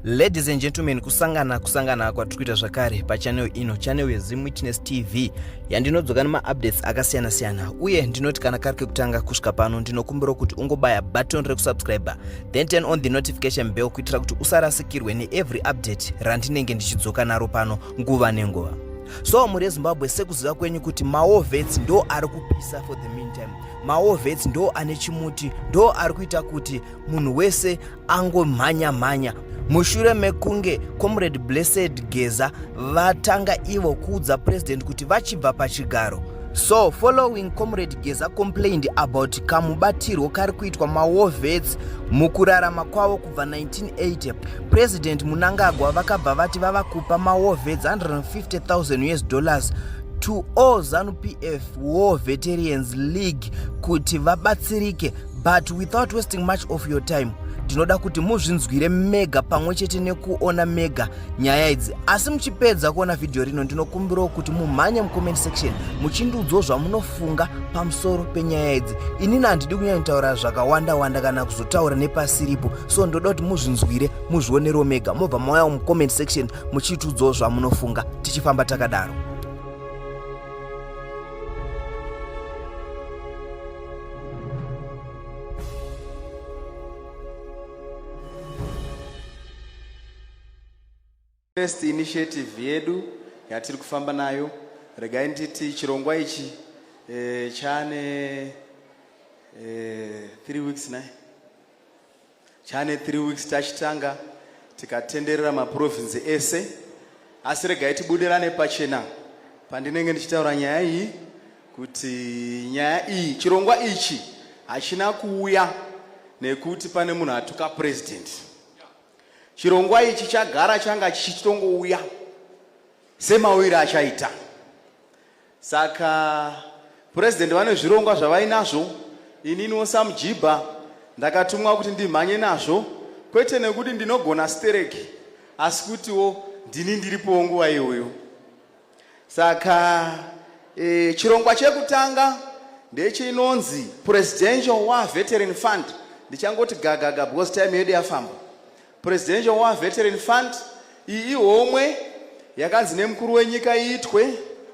ladies and gentlemen kusangana kusangana kwatiri kuita zvakare pachanel ino chanel yezim witness tv yandinodzoka nemaupdates akasiyana-siyana uye ndinoti kana kari kekutanga kusvika pano ndinokumbirawo kuti ungobaya button rekusubscriber then turn on the notification bell kuitira kuti usarasikirwe neevery update randinenge ndichidzoka naro pano nguva nenguva so mhuri yezimbabwe sekuziva kwenyu kuti maovets ndo ari kupisa for the meantime maovets ndo ane chimuti ndo ari kuita kuti munhu wese angomhanya mhanya mushure mekunge comrade blessed geza vatanga ivo kuudza president kuti vachibva pachigaro so following comrade geza complained about kamubatirwo kari kuitwa maovets mukurarama kwavo kubva 1980 president munangagwa vakabva vati vava kupa maovets 150 000 us dollars to all zanu pf War Veterans League kuti vabatsirike but without wasting much of your time tinoda kuti muzvinzwire mega pamwe chete nekuona mega nyaya idzi asi muchipedza kuona vhidhiyo rino ndinokumbirawo kuti mumhanye mucomment section muchindiudzawo zvamunofunga pamusoro penyaya idzi inini handidi kunyanyitaura zvakawanda wanda kana kuzotaura nepasiripo so ndoda kuti muzvinzwire muzvionerewo mega mobva mauyawo mucomment section muchitiudzawo zvamunofunga tichifamba takadaro First initiative yedu yatiri kufamba nayo regai nditi chirongwa ichi e, chane e, eh, 3 weeks naye Chane 3 weeks tachitanga tikatenderera maprovinzi ese asi regai tibudirane pachena pandinenge ndichitaura nyaya iyi kuti nyaya iyi chirongwa ichi hachina kuuya nekuti pane munhu atuka purezidenti chirongwa ichi chagara changa chichitongouya semauyiro achaita Saka president vane zvirongwa zvavainazvo, ininiwo samujibha ndakatumwa kuti ndimhanye nazvo, kwete nekuti ndinogona stereki, asi kutiwo ndini ndiripowo nguva iyoyo. Saka e, chirongwa chekutanga ndechinonzi Presidential War Veteran Fund, ndichangoti gagaga because time yedu yafamba. Presidential War Veteran Fund iyi ihomwe yakanzi nemukuru wenyika iitwe.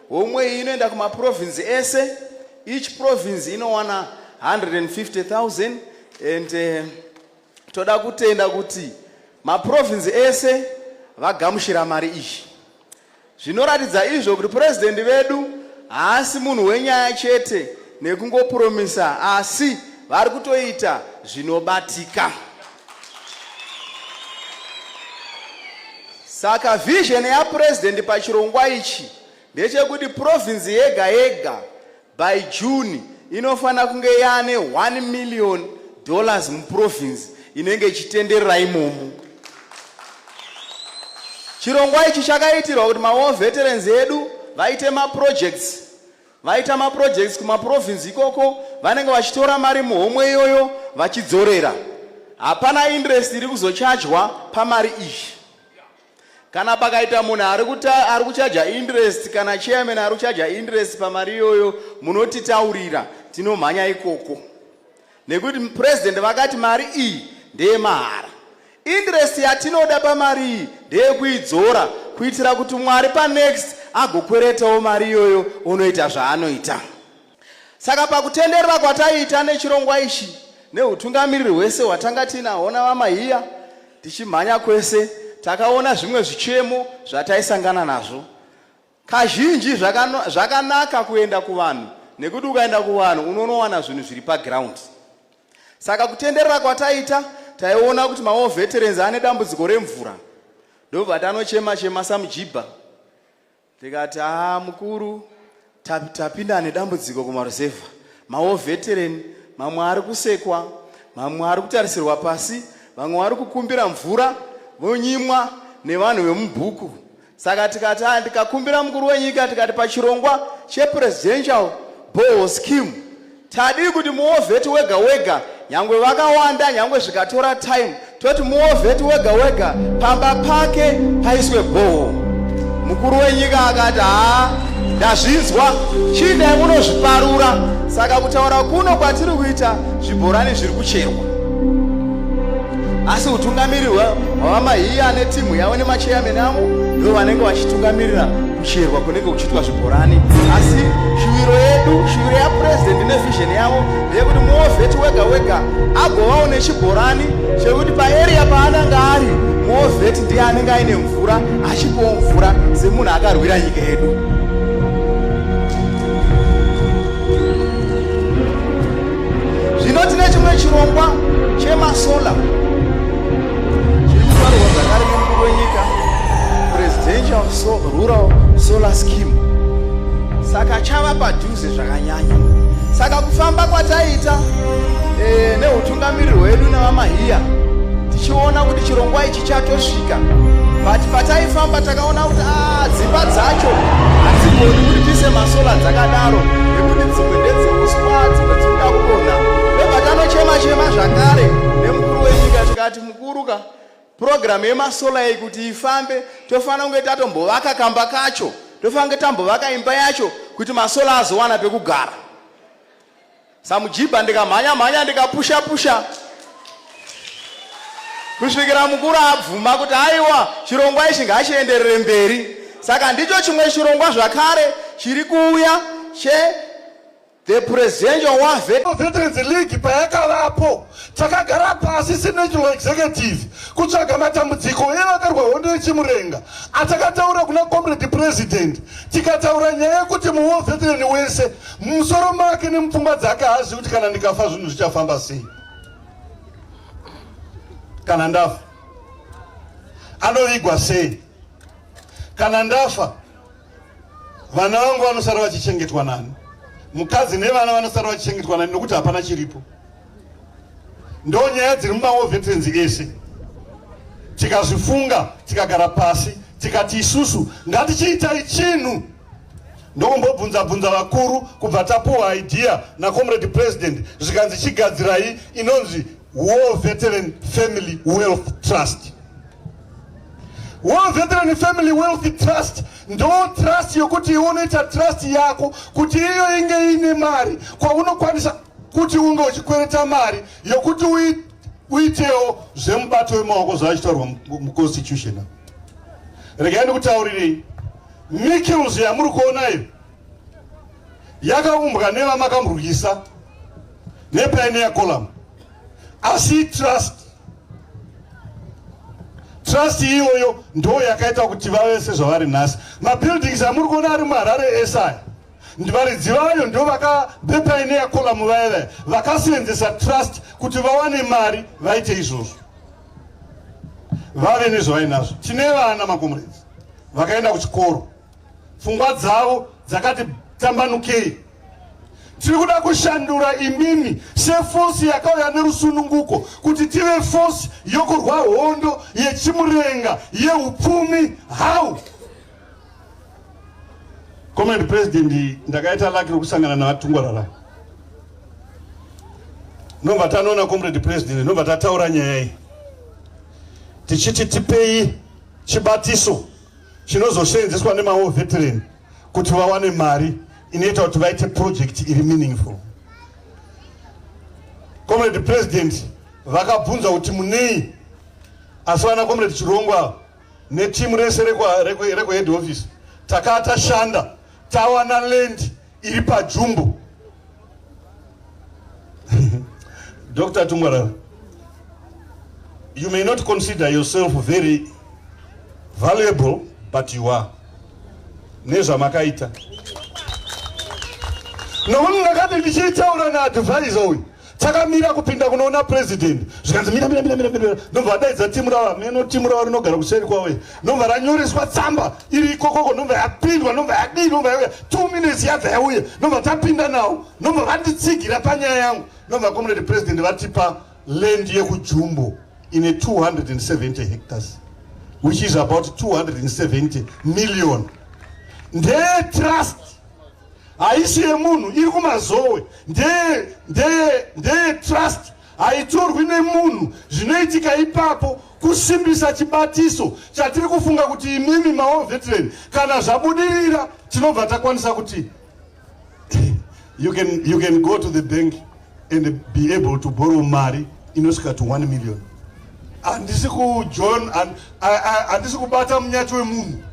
Homwe iyi inoenda kumaprovinzi ese. Each province inowana 150,000 and uh, toda kutenda kuti maprovinzi ese vagamushira mari iyi. Zvinoratidza izvo kuti President vedu haasi munhu wenyaya chete nekungopromisa asi vari kutoita zvinobatika. Saka vision yaPresident pachirongwa ichi ndechekuti province yega yega By June inofanira kunge yaane 1 million dollars muprovince inenge ichitenderera imomo. Chirongwa ichi chakaitirwa kuti mawar veterans edu vaite maprojects vaita maprojects kumaprovince ikoko vanenge vachitora mari muhomwe iyoyo vachidzorera hapana interest iri kuzochajwa pamari iyi kana pakaita munhu ari kuchaja interest kana chairman ari kuchaja interest pamari iyoyo munotitaurira tinomhanya ikoko nekuti president vakati mari iyi ndeyemahara interest yatinoda pamari iyi ndeyekuidzora kuitira kuti mwari panext agokweretawo mari iyoyo onoita zvaanoita Saka pakutenderera kwataiita nechirongwa ichi neutungamiriri hwese hwatanga tiinahwo navamahiya tichimhanya kwese, takaona zvimwe zvichemo zvataisangana nazvo. Kazhinji zvakanaka kuenda kuvanhu nekuti ukaenda kuvanhu unonowana zvinhu zviri paground. Saka kutenderera kwataita taiona kuti mawo veterans ane dambudziko remvura ndobva tanochema chema samujibha Ndikati haa mukuru tapinda ane dambudziko kumaruzevha mawo veteran mamwe ari kusekwa mamwe ari kutarisirwa pasi vamwe vari kukumbira mvura vonyimwa nevanhu vemubhuku saka tikati a ndikakumbira mukuru wenyika tikati pachirongwa chepresidential boho scheme Tadii kuti muovheti wega wega, nyangwe vakawanda, nyangwe zvikatora time, toti muovheti wega wega pamba pake paiswe bhoho. Mukuru wenyika akati, haa, ndazvinzwa, chii dai munozviparura, saka kutaura kuno kwatiri kuita zvibhorani zviri kucherwa. Asi utungamiriri hwavamahiya ane timu yavo nemacheyameni avo ndo vanenge vachitungamirirana. kucherwa kunenge kuchiitwa zvibhorani asi shuviro yedu shuviro yapurezidendi nevhizheni yavo yekuti muovheti wega wega agovawo nechibhorani chekuti paeria paananga ari muovheti ndiye anenge aine mvura achipowo mvura semunhu akarwira nyika yedu zvino tine chimwe chirongwa chemasola saka chava padhuze zvakanyanya saka kufamba kwataita e, neutungamiriri hwedu nevamahiya tichiona kuti chirongwa ichi chatosvika but pataifamba takaona kuti ah, dzimba dzacho hadzigoni kuti tiise masola dzakadaro nekuti dzimwe ndedzeuswa dzimwe dzinoda kudonha ndobatanochema chema zvakare Mukuru wenyika tikati mukuru ka purogiramu yemasola iyi kuti ifambe tofanira kunge tatombovaka kamba kacho tofanira kunge tambovaka imba yacho kuti masola azowana pekugara samujibha ndikamhanya mhanya ndikapusha pusha kusvikira mukuru abvuma kuti aiwa chirongwa ichi ngachienderere mberi saka ndicho chimwe chirongwa zvakare chiri kuuya che The presidential war veterans league payakavapo takagara pasi senational executive kutsvaga matambudziko evakarwa hondo yechimurenga atakataura kuna comrade president tikataura nyaya yekuti muwo veteran wese mumusoro make nemupfungwa dzake haazivi kuti kana ndikafa zvinhu zvichafamba sei kana ndafa anovigwa sei kana ndafa Vana vangu vanosara vachichengetwa nani? Mukadzi nevana vanosara vachichengetwa nani nokuti hapana chiripo. Ndo nyaya dziri mumawo veterenzi ese. Tikazvifunga, tikagara pasi, tikati isusu ngatichiitai chinhu ndokumbobvunza bvunza vakuru kubva tapuwa idea nacomrade president zvikanzi chigadzirai inonzi war veteran family wealth trust War Veteran Family Wealth Trust ndo trust yokuti iwe unoita trust yako kuti iyo inge iine mari kwaunokwanisa kuti unge uchikwereta mari yokuti uitewo zvemubato wemaoko zvavachitaurwa muconstitution regai ndikutaurirei mikils yamuri kuona iyo yakaumbwa nevamakamurwisa nepaineya colamu asi trust trust iyoyo ndo yakaita kuti vave sezvavari nhasi mabuildings amuri kuona ari muharare esaya ndivaridzi vayo ndo vakabepaineya kolamu vaya vaya vakasenzesa trust kuti vawane mari vaite izvozvo vave nezvavainazvo tine vana makomuredzi vakaenda kuchikoro Pfungwa dzavo dzakati tambanukei. Tiri kuda kushandura imimi sefosi yakauya nerusununguko kuti tive fosi yokurwa hondo yechimurenga yeupfumi. How? Comrade President, ndakaita laki rokusangana navatungwarara nobva tanoona comrade president nobva tataura nyaya iyi tichiti tipei chibatiso chinozoseenzeswa nemawo veteran kuti vawane mari inoita kuti vaite project iri meaningful comrade president vakabvunza kuti munei asi vana comrade chirongwa netimu rese rekuhead office takaa tashanda tawana land iri pajumbo Dr. Tungwarara, you may not consider yourself very valuable, but you are. nezvamakaita nokuti ndakati ndichiitaura naadvisor uyu takamira kupinda kunoona president zvikanzi mira mira mira mira mira ndobva vadaidza timu rava meno timu rava rinogara kuseri kwavo iyi ndobva ranyoreswa tsamba iri ikokoko ndobva yapindwa ndobva yadii ndobva yauya two minutes yabva yauya ndobva tapinda nawo ndobva vanditsigira panyaya yangu ndobva comrade president vatipa land yekujumbo ine 270 hectares which is about 270 million ndetrust haisi yemunhu iri kumazowe ndeye ndeye ndeye trust haitorwi nemunhu zvinoitika ipapo kusimbisa chibatiso chatiri kufunga kuti imimi mawo veteran kana zvabudirira tinobva takwanisa kuti you can, you can go to the bank and be able to borrow mari inosvika to 1 million handisi kujohn handisi kubata munyati wemunhu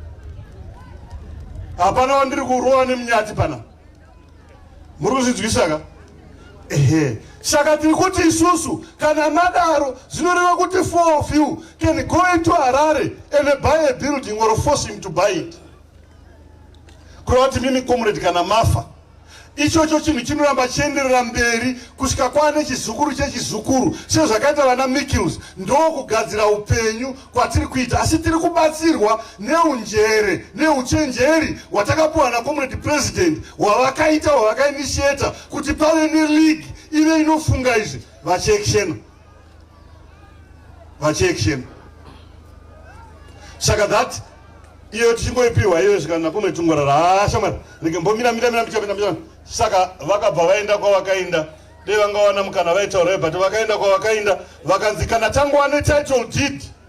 hapana wandiri kurova nemunyati pana muri kuzvinzwisa ka ehe saka tiri kuti isusu kana madaro zvinoreva kuti four of you can go into harare and buy a building or force him to buy it kureva kuti mimi comrade kana mafa Ichocho chinhu chinoramba chienderera mberi kusvika kwaane chizukuru chechizukuru sezvakaita vana Mickles. Ndokugadzira upenyu kwatiri kuita asi tiri kubatsirwa neunjere neuchenjeri hwatakapuwa naComrade President hwavakaita hwavakainitiator kuti pave neleague ive inofunga izvi vachekshena. vachiaction saka that iyo tichingoipiwa iyo svika napome tungorara hashamwari ah, rege mbomira mira mira michamira saka vakabva vaenda kwavakaenda dei vangawana mukana vaitaura but vakaenda kwavakaenda vakanzi kana tangowane title deed